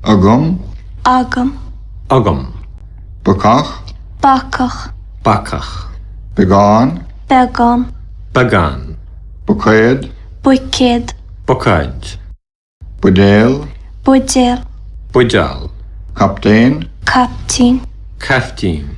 agam. agam. agam. bacach. bacach. bacach. beagán. beagán. beagán. buicéad. buicéad. buicéid. buidéal. buidéal. buideál. captaen. caiptín. caiftín.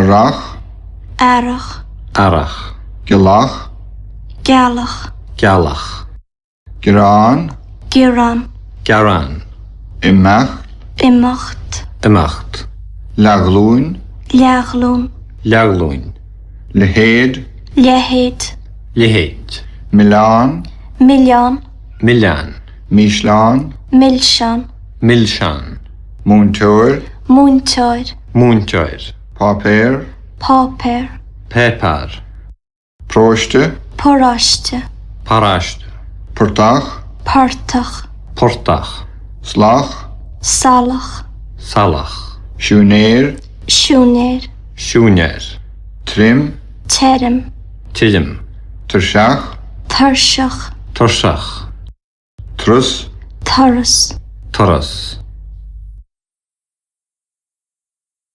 Earrach. Earrach. Earrach. Gealach. Gealach. Gealach. Gearán. Gearán. Gearán. Imeacht. Imeacht. Imeacht. Leathghlúin. Leathghlúin. Leathghlúin. Leithéid. Leithéid. Leithéid. Milleán. Milleán. Milleán. Milseán. Milseán. Milseán. múinteoir, múinteoir. múinteoir. páipéar, páipéar. páipéar, paróiste, paróiste. paráiste. portach, portach. portach. salach, salach. salach. siúinéir, siúinéir. siúinéir. tirim, tirim. tirim. tuirseach, tuirseach. tuirseach. Trus. Turas. Turas.